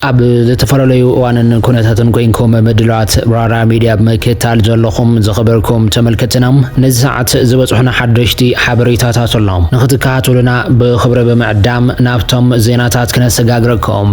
ኣብ ዝተፈላለዩ እዋንን ኩነታትን ኮይንኩም ምድላዋት ራራ ሚድያ ብምክታል ዘለኹም ዝኸበርኩም ተመልከትና ነዚ ሰዓት ዝበፅሑና ሓደሽቲ ሓበሬታታት ኣሎም ንክትከታተሉና ብኽብሪ ብምዕዳም ናብቶም ዜናታት ክነሰጋግረኩም።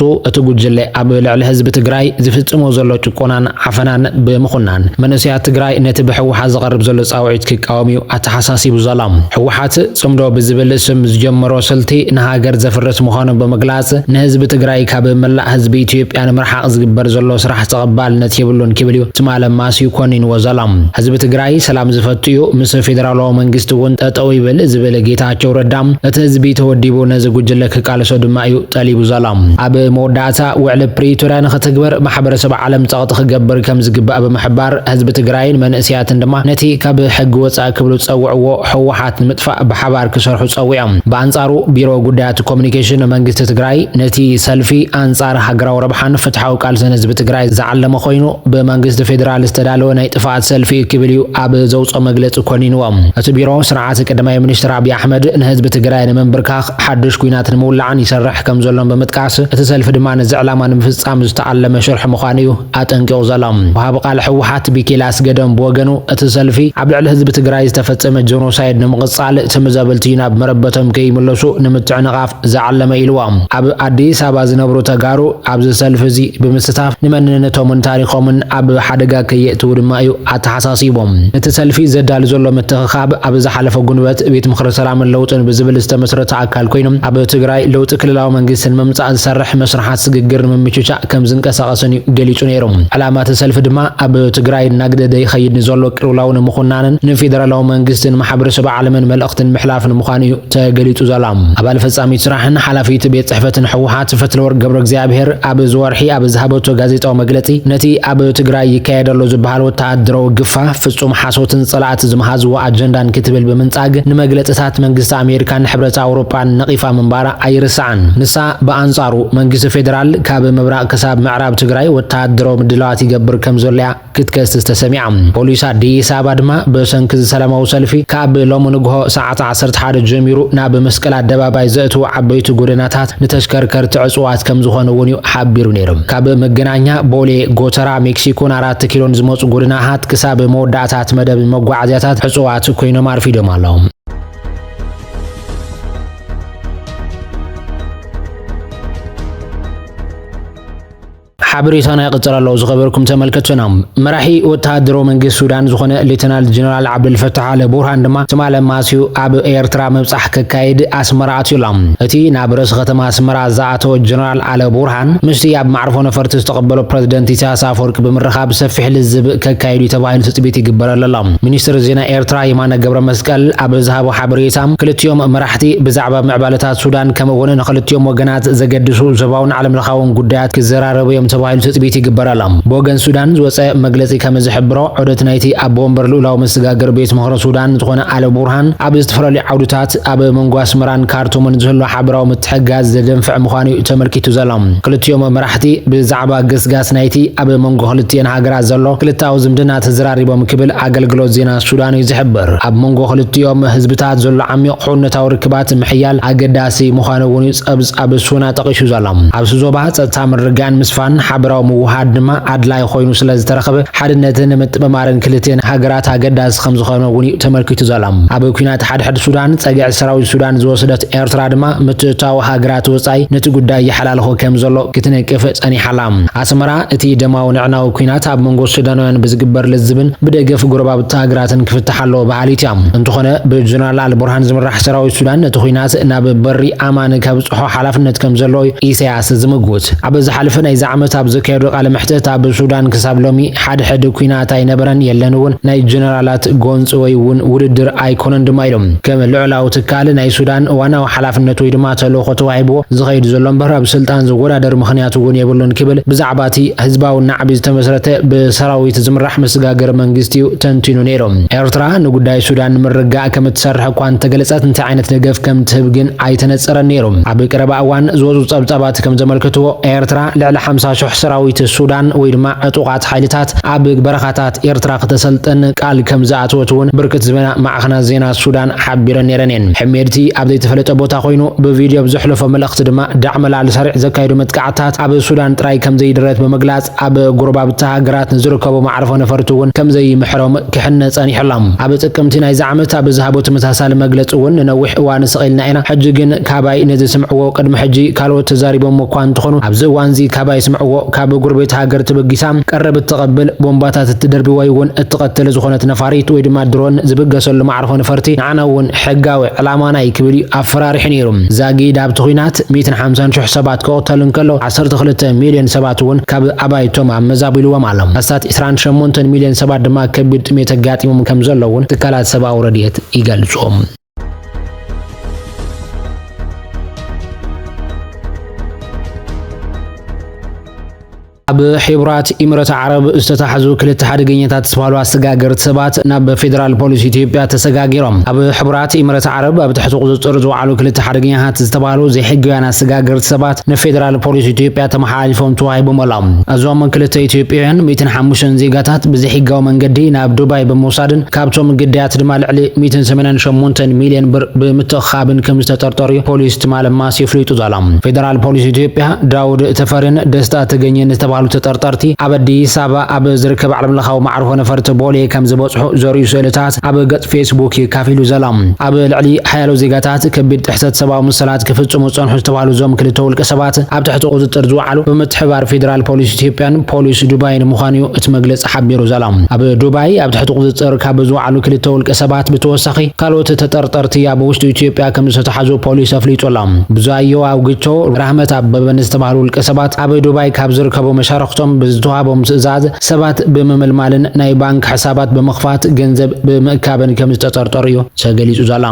ቱ እቲ ጉጅለ ኣብ ልዕሊ ህዝቢ ትግራይ ዝፍፅሞ ዘሎ ጭቆናን ዓፈናን ብምኹናን መንእሰያት ትግራይ ነቲ ብህወሓት ዝቐርብ ዘሎ ፃውዒት ክቃወም እዩ ኣተሓሳሲቡ ዘሎ። ህወሓት ፅምዶ ብዝብል ስም ዝጀመሮ ስልቲ ንሃገር ዘፍርስ ምዃኑ ብምግላፅ ንህዝቢ ትግራይ ካብ መላእ ህዝቢ ኢትዮጵያ ንምርሓቕ ዝግበር ዘሎ ስራሕ ተቐባልነት የብሉን ክብል እዩ ትማል ኣማስዩ ኮኒንዎ ዘሎ። ህዝቢ ትግራይ ሰላም ዝፈቱ እዩ ምስ ፌደራላዊ መንግስቲ እውን ጠጠው ይበል ዝብል ጌታቸው ረዳ እቲ ህዝቢ ተወዲቡ ነዚ ጉጅለ ቃልሶ ድማ እዩ ጠሊቡ ዘሎ። ኣብ መወዳእታ ውዕሊ ፕሪቶርያ ንኽትግበር ማሕበረሰብ ዓለም ፀቕጢ ክገብር ከምዝግባእ ብምሕባር ህዝቢ ትግራይን መንእሰያትን ድማ ነቲ ካብ ሕጊ ወፃኢ ክብሉ ዝፀውዕዎ ህወሓት ንምጥፋእ ብሓባር ክሰርሑ ፀዊዖም። ብኣንፃሩ ቢሮ ጉዳያት ኮሙኒኬሽን መንግስቲ ትግራይ ነቲ ሰልፊ ኣንፃር ሃገራዊ ረብሓን ፍትሓዊ ቃልስን ህዝቢ ትግራይ ዝዓለመ ኮይኑ ብመንግስቲ ፌዴራል ዝተዳለወ ናይ ጥፍኣት ሰልፊ እዩ ክብል እዩ ኣብ ዘውፅኦ መግለፂ ኮኒንዎ። እቲ ቢሮ ስርዓት ቀዳማይ ሚኒስትር ኣብይ ኣሕመድ ንህዝቢ ትግራይ ንምንብርካኽ ሓዱሽ ኲናት ንምውላዕን ይሰርሕ ከምዘሎን ብምጥቃስ፣ እቲ ሰልፊ ድማ ነዚ ዕላማ ንምፍጻም ዝተኣለመ ሽርሒ ምዃኑ እዩ ኣጠንቂቑ ዘሎ። ወሃቢ ቃል ህወሓት ቢኪኤል ኣስገዶም ብወገኑ፣ እቲ ሰልፊ ኣብ ልዕሊ ህዝቢ ትግራይ ዝተፈጸመ ጀኖሳይድ ንምቕጻል ትምዘብልቲ ናብ መረበቶም ከይምለሱ ንምትዕንቓፍ ዝዓለመ ኢልዎ። ኣብ ኣዲስ ኣበባ ዝነብሩ ተጋሩ ኣብዚ ሰልፊ እዚ ብምስታፍ ንመንነቶምን ታሪኾምን ኣብ ሓደጋ ከየእትዉ ድማ እዩ ኣተሓሳሲቡ። ነቲ ሰልፊ ዘዳሉ ዘሎ ምትኽኻእ፣ ኣብ ኣብ ዝሓለፈ ጉንበት ቤት ምኽሪ ሰላምን ለውጥን ብዝብል ዝተመስረተ ኣካል ኮይኑ ኣብ ትግራይ ለውጢ ክልላዊ መንግስቲ ንምምፃእ ዝሰርሕ መስርሓት ስግግር ንምምችቻእ ከምዝንቀሳቐስን እዩ ገሊፁ ነይሩ። ዕላማ እቲ ሰልፊ ድማ ኣብ ትግራይ እናግደደ ይኸይድ ንዘሎ ቅልውላው ንምኹናንን ንፌደራላዊ መንግስትን ማሕበረሰብ ዓለምን መልእኽቲ ንምሕላፍን ምዃኑ እዩ ተገሊፁ ዘሎ። ኣባል ፈፃሚት ስራሕን ሓላፊት ቤት ፅሕፈትን ህወሓት ፈትለወርቅ ገብረእግዚኣብሄር ኣብዚ ወርሒ ኣብ ዝሃበቶ ጋዜጣዊ መግለፂ ነቲ ኣብ ትግራይ ይካየድ ኣሎ ዝበሃል ወተሃደራዊ ግፋ ፍፁም ሓሶትን ጸላእቲ ዝመሃዝዎ ኣጀንዳን ክትብል ብምንጻግ ንመግለጽታት መንግስቲ ኣሜሪካን ሕብረት ኣውሮጳን ነቒፋ ምንባራ ኣይርሳዕን። ንሳ ብኣንጻሩ መንግስቲ ፌደራል ካብ ምብራቕ ክሳብ ምዕራብ ትግራይ ወተሃደራዊ ምድላዋት ይገብር ከምዘሎ'ያ ክትከስስ ተሰሚዓ። ፖሊስ ኣዲስ ኣበባ ድማ ብሰንኪ'ዚ ሰላማዊ ሰልፊ ካብ ሎሚ ንግሆ ሰዓት ዓሰርተ ሓደ ጀሚሩ ናብ መስቀል ኣደባባይ ዘእትዉ ዓበይቲ ጎደናታት ንተሽከርከርቲ ዕጹዋት ከምዝኾኑ'ውን'ዩ ሓቢሩ ነይሩ። ካብ መገናኛ፣ ቦሌ፣ ጎተራ፣ ሜክሲኮን ኣራት ኣቲ ኪሎን ዝመጹ ጎደናታት ክሳብ መወዳእታ እቲ መደብ መጓዓዝያታት ዕጹዋት ኮይኖም ኣርፊዶም ኣለዉ። ሓበሬታና ይቕጽል ኣሎ ዝኸበርኩም ተመልከቱና። መራሒ ወተሃደራዊ መንግስቲ ሱዳን ዝኾነ ሌተናል ጀነራል ዓብደልፈታሕ ኣለ ቡርሃን ድማ ትማሊ ኣማስዩ ኣብ ኤርትራ ምብጻሕ ከካይድ ኣስመራ ኣትዩ ኣሎ። እቲ ናብ ርእሲ ከተማ ኣስመራ ኣቶ ጀነራል ዓለ ቡርሃን ምስቲ ኣብ ማዕርፎ ነፈርቲ ዝተቐበሎ ፕረዚደንት ኢሳያስ ኣፈወርቂ ብምርኻብ ሰፊሕ ልዝብ ከካይዱ'ዩ ተባሂሉ ትጽቢት ይግበረሉ ኣሎ። ሚኒስትር ዜና ኤርትራ የማነ ገብረመስቀል ኣብ ዝሃቦ ሓበሬታ፣ ክልቲኦም መራሕቲ ብዛዕባ ምዕባለታት ሱዳን ከምኡ'ውን ንኽልቲኦም ወገናት ዘገድሱ ዞባውን ዓለምለኻውን ጉዳያት ክዘራረቡ'ዮም ተባሂሉ ትጽቢት ይግበረሎም። ብወገን ሱዳን ዝወጸ መግለጺ ከምዝሕብሮ፣ ዑደት ናይቲ ኣቦ ወንበር ልኡላዊ መሰጋገሪ ቤት ምኽሪ ሱዳን ዝኾነ ዓለ ቡርሃን ኣብ ዝተፈላለዩ ዓውድታት ኣብ መንጎ ኣስመራን ካርቱምን ዝህሉ ሓበራዊ ምትሕግጋዝ ዘደንፍዕ ምዃኑ'ዩ ተመልኪቱ ዘሎ። ክልቲኦም መራሕቲ ብዛዕባ ገስጋስ ናይቲ ኣብ መንጎ ክልቲኤን ሃገራት ዘሎ ክልተኣዊ ዝምድና ተዘራሪቦም ክብል ኣገልግሎት ዜና ሱዳን'ዩ ዝሕብር። ኣብ መንጎ ክልቲኦም ህዝብታት ዘሎ ዓሚቕ ሕውነታዊ ርክባት ምሕያል ኣገዳሲ ምዃኑ'ውን'ዩ ጸብጻብ ሱና ጠቒሱ ዘሎ። ኣብ'ቲ ዞባ ጸጥታ ምርግጋእን ምስፋን ሓበራዊ ምውህሃድ ድማ ኣድላዪ ኮይኑ ስለ ዝተረኽበ ሓድነትን ምጥምማርን ክልቲኤን ሃገራት ኣገዳሲ ከም ዝኾነ'ውን'ዩ ተመልኪቱ ዘሎ። ኣብ ኲናት ሓድሕድ ሱዳን ጸግዒ ሰራዊት ሱዳን ዝወሰደት ኤርትራ ድማ ምትእትታው ሃገራት ወጻኢ ነቲ ጉዳይ ይሓላልኾ ከም ዘሎ ክትነቅፍ ጸኒሓ ኣላ። ኣስመራ እቲ ደማዊ ንዕናዊ ኲናት ኣብ መንጎ ሱዳናውያን ብዝግበር ልዝብን ብደገፍ ጎረባብቲ ሃገራትን ክፍታሕ ኣለዎ በሃሊት እያ። እንተኾነ ብጀነራል ኣልቡርሃን ዝምራሕ ሰራዊት ሱዳን ነቲ ኲናት ናብ በሪ ኣማን ከብጽሖ ሓላፍነት ከም ዘለዎ ኢሳያስ ዝምጉት። ኣብ ዝሓለፈ ናይዚ ዓመት ኣብ ዘካየዶ ቃለ መሕትት ኣብ ሱዳን ክሳብ ሎሚ ሓድሕድ ኲናት ኣይነበረን የለን እውን፣ ናይ ጀነራላት ጎንፂ ወይ እውን ውድድር ኣይኮነን ድማ ኢሎም። ከም ልዑላዊ ትካል ናይ ሱዳን ዋናዊ ሓላፍነት ወይ ድማ ተልእኾ ተዋሂብዎ ዝኸይድ ዘሎ እምበር ኣብ ስልጣን ዝወዳደር ምኽንያት እውን የብሉን ክብል ብዛዕባ እቲ ህዝባዊ ናዕቢ ዝተመስረተ ብሰራዊት ዝምራሕ መስጋገሪ መንግስቲ እዩ ተንቲኑ ነይሩ። ኤርትራ ንጉዳይ ሱዳን ንምርግጋእ ከምትሰርሕ እኳ እንተገለፀት እንታይ ዓይነት ደገፍ ከምትህብ ግን ኣይተነጸረን ነይሩ። ኣብ ቀረባ እዋን ዝወጹ ጸብጻባት ከም ዘመልክትዎ፣ ኤርትራ ልዕሊ ሓምሳ ሽሕ ሰራዊት ሱዳን ወይ ድማ ዕጡቓት ሓይልታት ኣብ በረኻታት ኤርትራ ክተሰልጥን ቃል ከም ዝኣተወት እውን ብርክት ዝበላ ማዕኸናት ዜና ሱዳን ሓቢረን ነይረን እየን። ሕሜድቲ ኣብ ዘይተፈለጠ ቦታ ኮይኑ ብቪድዮ ኣብ ዘሕለፎ መልእኽቲ ድማ ዳዕመላል ሰሪዕ ዘካይዶ መጥቃዕትታት ኣብ ሱዳን ጥራይ ከም ዘይድረት ብምግላጽ፣ ኣብ ጎረባብቲ ሃገራት ንዝርከቡ መዓርፎ ነፈርቲ እውን ከምዘይምሕሮም ክሕነ ጸኒሑ ኣሎ። ኣብ ጥቅምቲ ናይዚ ዓመት ኣብ ዝሃቦ ተመሳሳሊ መግለጺ እውን ንነዊሕ እዋን ስቕ ኢልና ኢና፣ ሕጂ ግን ካባይ ነዚ ስምዕዎ፣ ቅድሚ ሕጂ ካልኦት ተዛሪቦሞ እኳ እንተኾኑ ኣብዚ እዋንዚ ካባይ ስምዕዎ፣ ካብ ጎረቤት ሃገር ተበጊሳ ቀረብ እተቐብል፣ ቦምባታት እትደርቢ ወይ እውን እትቐትል ዝኾነት ነፋሪት ወይ ድማ ድሮን ዝብገሰሉ መዓርፎ ነፈርቲ ንዓና እውን ሕጋዊ ዕላማና እዩ ክብል እዩ ኣፈራሪሑ ነይሩ። ዛጊድ ኣብቲ ኲናት ሚእትን ሓምሳን ሽሕ ሰባት ክቕተሉ እንከሎ፣ ዓሰርተ ክልተ ሚልዮን ሰባት እውን ካብ ኣባይቶም ኣመዛቢሉዎም ኣሎ። ኣስታት ዕስራን ሸሞንተን ሚልዮን ሰባት ድማ ከቢድ ጥሜት ኣጋጢሞም ከም ዘሎ እውን ትካላት ሰብኣዊ ረድኤት ይገልጹ። ኣብ ሕቡራት ኢምረት ዓረብ ዝተታሕዙ ክልተ ሓደገኛታት ዝተባህሉ ኣሰጋገርቲ ሰባት ናብ ፌዴራል ፖሊስ ኢትዮጵያ ተሰጋጊሮም። ኣብ ሕቡራት ኢምረት ዓረብ ኣብ ትሕቲ ቁፅፅር ዝወዓሉ ክልተ ሓደገኛታት ዝተባህሉ ዘይሕጋውያን ኣሰጋገርቲ ሰባት ንፌደራል ፖሊስ ኢትዮጵያ ተመሓላሊፎም ተዋሂቦም ኣሎም። እዞም ክልተ ኢትዮጵያውያን ሚእትን ሓሙሽተን ዜጋታት ብዘይሕጋዊ መንገዲ ናብ ዱባይ ብምውሳድን ካብቶም ግዳያት ድማ ልዕሊ ሚእትን ሰማንያን ሸሞንተን ሚልየን ብር ብምትእኽኻብን ከምዝተጠርጠሩ'ዩ ፖሊስ ትማል ማስ የፍሊጡ ዘሎ። ፌደራል ፖሊስ ኢትዮጵያ ዳውድ ተፈሪን ደስታ ተገኘን ዝተባህሉ ተጠርጠርቲ ኣብ ኣዲስ ኣበባ ኣብ ዝርከብ ዓለምለኻዊ መዓርፎ ነፈርቲ ቦሌ ከምዝበጽሑ ዘርእዩ ስእልታት ኣብ ገጽ ፌስቡክ'ዩ ኣካፊሉ ዘሎ። ኣብ ልዕሊ ሓያሎ ዜጋታት ከቢድ ጥሕሰት ሰብኣዊ መሰላት ክፍፅሙ ዝፀንሑ ዝተባህሉ እዞም ክልተ ውልቀ ሰባት ኣብ ትሕቲ ቁፅፅር ዝወዓሉ ብምትሕብባር ፌዴራል ፖሊስ ኢትዮጵያን ፖሊስ ዱባይን ምዃኑ እዩ እቲ መግለፂ ሓቢሩ ዘሎ። ኣብ ዱባይ ኣብ ትሕቲ ቁፅፅር ካብ ዝወዓሉ ክልተ ውልቀ ሰባት ብተወሳኺ ካልኦት ተጠርጠርቲ ኣብ ውሽጢ ኢትዮጵያ ከምዝተትሓዙ ፖሊስ ኣፍሊጡ ኣሎ። ብዙኣየሁ ኣውግቾ፣ ራህመት ኣበበ ንዝተባህሉ ውልቀ ሰባት ኣብ ዱባይ ካብ ዝርከቡ መሻርኽቶም ብዝተውሃቦም ትእዛዝ ሰባት ብምምልማልን ናይ ባንክ ሕሳባት ብምኽፋት ገንዘብ ብምእካብን ከምዝተጠርጠሩ እዩ ተገሊፁ ዘሎ።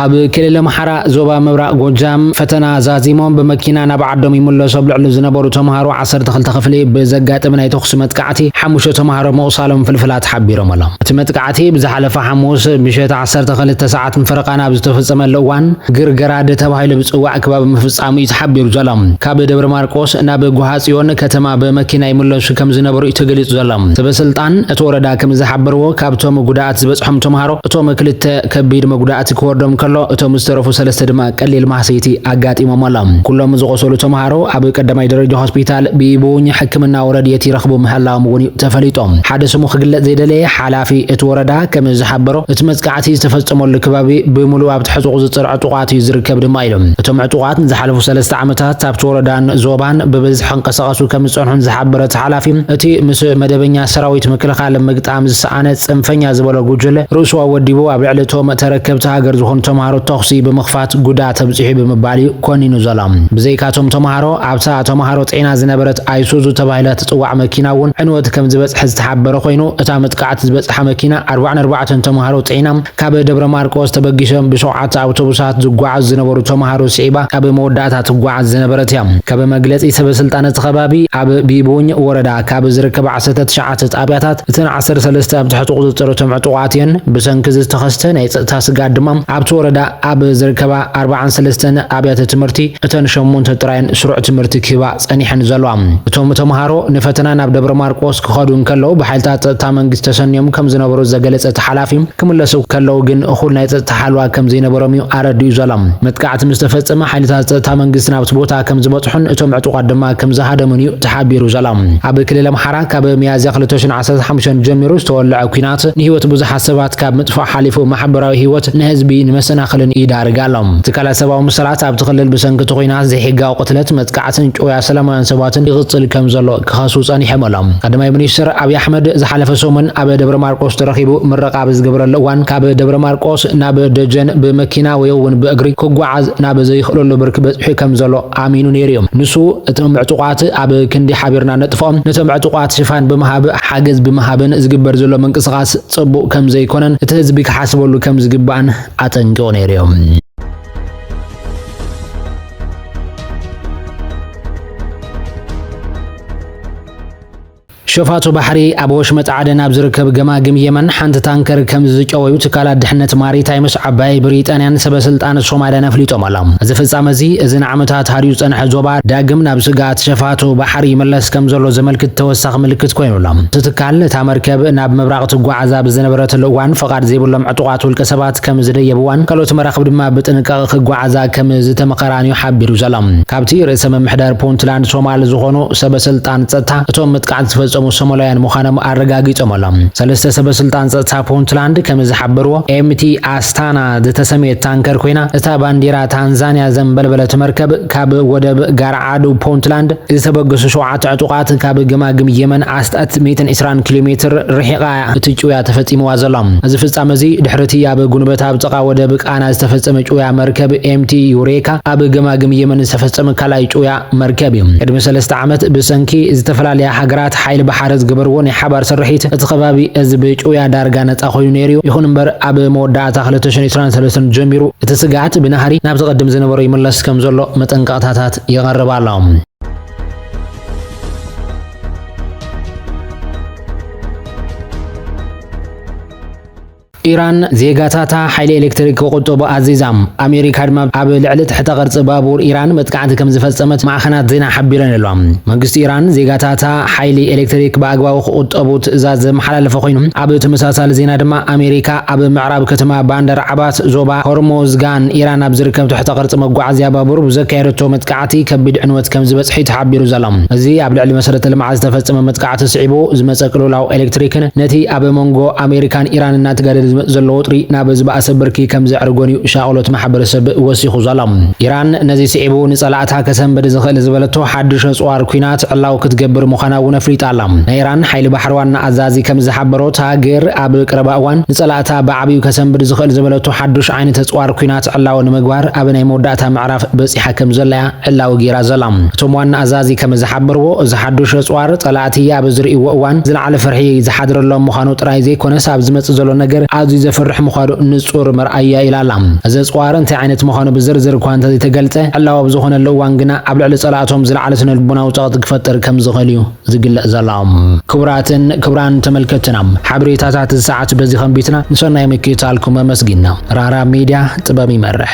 ኣብ ክልል ኣምሓራ ዞባ ምብራቕ ጎጃም ፈተና ዛዚሞም ብመኪና ናብ ዓዶም ይምለሱ ኣብ ልዕሊ ዝነበሩ ተምሃሮ 12 ክፍሊ ብዘጋጠመ ናይ ተኹሲ መጥቃዕቲ ሓሙሽተ ተምሃሮ ምቑሳሎም ፍልፍላት ሓቢሮም ኣሎም። እቲ መጥቃዕቲ ብዝሓለፈ ሓሙስ ምሸት 12 ሰዓት ኣቶም ፈረቃን ኣብ ዝተፈጸመሉ እዋን ግርገራድ ተባሂሉ ዝጽዋዕ ክባቢ ምፍጻሙ እዩ ተሓቢሩ ዘሎ። ካብ ደብረማርቆስ ናብ ጓሃጽዮን ከተማ ብመኪና ይምለሱ ከም ዝነበሩ እዩ ተገሊጹ ዘሎ። ሰበስልጣን እቲ ወረዳ ከም ዝሓበርዎ ካብቶም ጉድኣት ዝበጽሖም ተማሃሮ እቶም ክልተ ከቢድ መጉዳእቲ ክወርዶም ከሎ እቶም ዝተረፉ ሰለስተ ድማ ቀሊል ማህሰይቲ ኣጋጢሞም ኣሎ። ኩሎም ዝቖሰሉ ተማሃሮ ኣብ ቀዳማይ ደረጃ ሆስፒታል ቢቡኝ ሕክምናዊ ረድኤት ይረኽቡ ምህላዎም እውን እዩ ተፈሊጡ። ሓደ ስሙ ክግለጽ ዘይደለየ ሓላፊ እቲ ወረዳ ከም ዝሓበሮ፣ እቲ መጥቃዕቲ ዝተፈጸመሉ ከባቢ ብምሉኡ ኣብቲ ሕጹቕ ዝጽር ዕጡቓት እዩ ዝርከብ ድማ ኢሉ። እቶም ዕጡቓት ንዝሓለፉ ሰለስተ ዓመታት ኣብቲ ወረዳን ዞባን ብብዝሒ ክንቀሳቐሱ ከም ዝጸንሑን ዝሓበረ እቲ ሓላፊ፣ እቲ ምስ መደበኛ ሰራዊት ምክልኻል ምግጣም ዝሰኣነ ጽንፈኛ ዝበሎ ጉጅለ፣ ርእሱ ኣወዲቡ ኣብ ልዕሊ እቶም ተረከብቲ ሃገር ዝኾኑ ተማሃሮ ተኹሲ ብምኽፋት ጉድኣት ኣብጺሑ ብምባል እዩ ኮኒኑ ዘሎ። ብዘይካ እቶም ተማሃሮ፣ ኣብታ ተማሃሮ ጤና ዝነበረት ኣይሱዙ ተባሂላ ትጽዋዕ መኪና እውን ዕንወት ከም ዝበጽሐ ዝሓበረ ኮይኑ፣ እታ መጥቃዕቲ ዝበጽሓ መኪና ኣርባዕን ኣርባዕተን ተማሃሮ ጽዒና ካብ ደብረ ማርቆስ ተበጊሶም ብሸውዓተ ኣውቶቡሳት ዝጓዓዙ ዝነበሩ ተማሃሮ ስዒባ ኣብ መወዳእታ ትጓዓዝ ዝነበረት እያ። ከም መግለጺ ሰበስልጣን እቲ ከባቢ፣ ኣብ ቢቡኝ ወረዳ ካብ ዝርከባ ዓሰርተ ትሽዓተ ጣብያታት እተን ዓሰርተ ሰለስተ ኣብ ትሕቲ ቁጽጽር እቶም ዕጡቓት እየን። ብሰንኪ እዚ ዝተኸስተ ናይ ጸጥታ ስግኣት ድማ ኣብቲ ወረዳ ኣብ ዝርከባ ኣርብዓን ሰለስተን ኣብያተ ትምህርቲ እተን ሸሞንተ ጥራየን ስሩዕ ትምህርቲ ክህባ ጸኒሐን ዘሏ። እቶም ተምሃሮ ንፈተና ናብ ደብረ ማርቆስ ክኸዱ እንከለዉ ብሓይልታት ጸጥታ መንግስቲ ተሰንዮም ከም ዝነበሩ ዘገለጸ እቲ ሓላፊ፣ ክምለሱ ከለዉ ግን እኹል ናይ ጸጥታ ሓልዋ ከም ዘይነበሮም'ዩ ኣረዲኡ ዘሎ። መጥቃዕቲ ምስ ተፈጸመ ሓይልታት ጸጥታ መንግስቲ ናብቲ ቦታ ከም ዝበጽሑን እቶም ዕጡቓት ድማ ከም ዝሃደሙን'ዩ ተሓቢሩ ዘሎ። ኣብ ክልል ኣምሓራ ካብ ሚያዝያ ክልተ ሽሕን ዓሰርተ ሓሙሽተን ጀሚሩ ዝተወልዐ ኲናት ንህይወት ብዙሓት ሰባት ካብ ምጥፋእ ሓሊፉ ማሕበራዊ ህይወት ንህዝቢ ንመሰናኽልን ይዳርግ ኣሎ። ትካላት ሰብኣዊ መሰላት ኣብቲ ክልል ብሰንኪ እቲ ኲናት ዘይሕጋዊ ቅትለት፣ መጥቃዕትን ጭውያ ሰላማውያን ሰባትን ይቕጽል ከም ዘሎ ክኸሱ ጸኒሖም ኣሎም። ቀዳማይ ሚኒስትር ኣብይ ኣሕመድ ዝሓለፈ ሰሙን ኣብ ደብረ ማርቆስ ተረኺቡ ምረቓ ኣብ ዝገበረሉ እዋን ካብ ደብረ ማርቆስ ናብ ደጀን ብመኪና ወይ እውን ብእግሪ ክጓዓዝ ናብ ዘይኽእለሉ ብርኪ በጺሑ ከም ዘሎ ኣሚኑ ነይሩ እዩ። ንሱ እቶም ዕጡቓት ኣብ ክንዲ ሓቢርና ነጥፍኦም ነቶም ዕጡቓት ሽፋን ብምሃብ ሓገዝ ብምሃብን ዝግበር ዘሎ ምንቅስቓስ ጽቡቕ ከም ዘይኮነን እቲ ህዝቢ ክሓስበሉ ከም ዝግባእን ኣጠንቂቑ ነይሩ እዩ። ሸፋቱ ባሕሪ ኣብ ወሽመጥ ዓደን ኣብ ዝርከብ ገማግም የመን ሓንቲ ታንከር ከም ዝጨወዩ ትካላት ድሕነት ማሪታይምስ ዓባይ ብሪጣንያን ሰበስልጣን ሶማልያን ኣፍሊጦም ኣሎም። እዚ ፍጻመ እዚ እዚ ንዓመታት ሃድዩ ዝጸንሐ ዞባ ዳግም ናብ ስግኣት ሸፋቱ ባሕሪ ይመለስ ከም ዘሎ ዘመልክት ተወሳኺ ምልክት ኮይኑ ኣሎ። እቲ ትካል እታ መርከብ ናብ ምብራቕ ትጓዓዝ ኣብ ዝነበረትሉ እዋን ፍቓድ ዘይብሎም ዕጡቓት ውልቀ ሰባት ከም ዝደየብዋን ካልኦት መራኽብ ድማ ብጥንቃቐ ክጓዓዛ ከም ዝተመኸራን'ዩ ሓቢሩ ዘሎ። ካብቲ ርእሰ ምምሕዳር ፑንትላንድ ሶማል ዝኾኑ ሰበ ስልጣን ጸጥታ፣ እቶም መጥቃዕቲ ዝፈጸሙ ሶማላውያን ምዃኖም ኣረጋጊጾም ኣሎም። ሰለስተ ሰበ ስልጣን ጸጥታ ፑንትላንድ ከም ዝሓበርዎ፣ MT Astana ዝተሰምየት ታንከር ኮይና እታ ባንዴራ ታንዛንያ ዘንበልበለት መርከብ ካብ ወደብ ጋርዓዱ ፑንትላንድ ዝተበገሱ ሸውዓተ ዕጡቓት ካብ ገማግም የመን ኣስታት ሚእትን ዕስራን ኪሎ ሜትር ርሒቓ ቃና እቲ ጭውያ ተፈጺምዋ ዘሎ። እዚ ፍጻመ እዚ ድሕሪ'ቲ ኣብ ጉንበት ኣብ ጥቓ ወደብ ቃና ዝተፈጸመ ጭውያ መርከብ MT Eureka ኣብ ገማግም የመን ዝተፈጸመ ካልኣይ ጭውያ መርከብ እዩ። ቅድሚ ሰለስተ ዓመት ብሰንኪ ዝተፈላለያ ሃገራት ሓይሊ ባሕሪ ዝገበርዎ ናይ ሓባር ስርሒት እቲ ከባቢ እዚ ብጭውያ ዳርጋ ነጻ ኮይኑ ነይሩ እዩ። ይኹን እምበር ኣብ መወዳእታ ክልተ ሽሕን ዕስራን ሰለስተን ጀሚሩ እቲ ስግኣት ብናህሪ ናብቲ ቅድም ዝነበሮ ይምለስ ከምዘሎ መጠንቀቕታታት ይቐርብ ኣሎ። ኢራን ዜጋታታ ሓይሊ ኤሌክትሪክ ክቑጥቡ ኣዚዛ። ኣሜሪካ ድማ ኣብ ልዕሊ ትሕተ ቅርጺ ባቡር ኢራን መጥቃዕቲ ከም ዝፈጸመት ማዕኸናት ዜና ሓቢረን ኣለዋ። መንግስቲ ኢራን ዜጋታታ ሓይሊ ኤሌክትሪክ ብኣግባቡ ክቑጠቡ ትእዛዝ ዘመሓላለፈ ኮይኑ፣ ኣብ ተመሳሳሊ ዜና ድማ ኣሜሪካ ኣብ ምዕራብ ከተማ ባንደር ዓባት ዞባ ሆርሞዝጋን ኢራን ኣብ ዝርከብ ትሕተ ቅርጺ መጓዓዝያ ባቡር ብዘካየደቶ መጥቃዕቲ መጥቃዕቲ ከቢድ ዕንወት ከምዝበፅሕ'ዩ ተሓቢሩ ዘሎ። እዚ ኣብ ልዕሊ መሰረተ ልምዓት ዝተፈፀመ መጥቃዕቲ ስዒቡ ዝመፀ ቅልውላው ኤሌክትሪክን ነቲ ኣብ ሞንጎ ኣሜሪካን ኢራን እናተጋደደ ዝመፅ ዘሎ ወጥሪ ናብ ዝበኣሰ ብርኪ ከምዘዕርጎን'ዩ ሻቕሎት ማሕበረሰብ ወሲኹ ዘሎ። ኢራን ነዚ ስዒቡ ንፀላእታ ከሰንብድ ዝኽእል ዝበለቶ ሓዱሽ ኣፅዋር ኲናት ዕላዊ ክትገብር ምዃና'ውን ኣፍሊጣ ኣላ። ናይ ኢራን ሓይሊ ባሕሪ ዋና ኣዛዚ ከምዝሓበሮ እታ ሃገር ኣብ ቀረባ እዋን ንፀላእታ ብዓብዩ ከሰንብድ ዝኽእል ዝበለቶ ሓዱሽ ዓይነት ኣፅዋር ኲናት ዕላዊ ንምግባር ኣብ ናይ መወዳእታ ምዕራፍ ጫፍ በጺሓ ከም ዘላ'ያ ዕላዊ ገይራ ዘላ። እቶም ዋና ኣዛዚ ከም ዝሓበርዎ፣ እዚ ሓዱሽ ኣጽዋር፣ ጸላእቲ ኣብ ዝርእይዎ እዋን ዝለዓለ ፍርሒ ዝሓድረሎም ምዃኑ ጥራይ ዘይኮነስ፣ ኣብ ዝመጽእ ዘሎ ነገር ኣዝዩ ዘፍርሕ ምዃኑ ንጹር መርኣያ'ዩ ኢላ ኣላ። እዚ ኣጽዋር እንታይ ዓይነት ምዃኑ ብዝርዝር እኳ እንተዘይተገልጸ፣ ዕላዊ ኣብ ዝኾነሉ እዋን ግና ኣብ ልዕሊ ጸላእቶም ዝለዓለ ስነልቦናዊ ጸቕጢ ክፈጥር ከም ዝኽእል'ዩ ዝግለጽ ዘሎ። ክቡራትን ክቡራን ተመልከትትና ሓበሬታታት እዚ ሰዓት በዚ ከንቢትና ንሰናይ ምክትታልኩም ኣመስጊንና። ራህራህ ሚድያ ጥበብ ይመርሕ።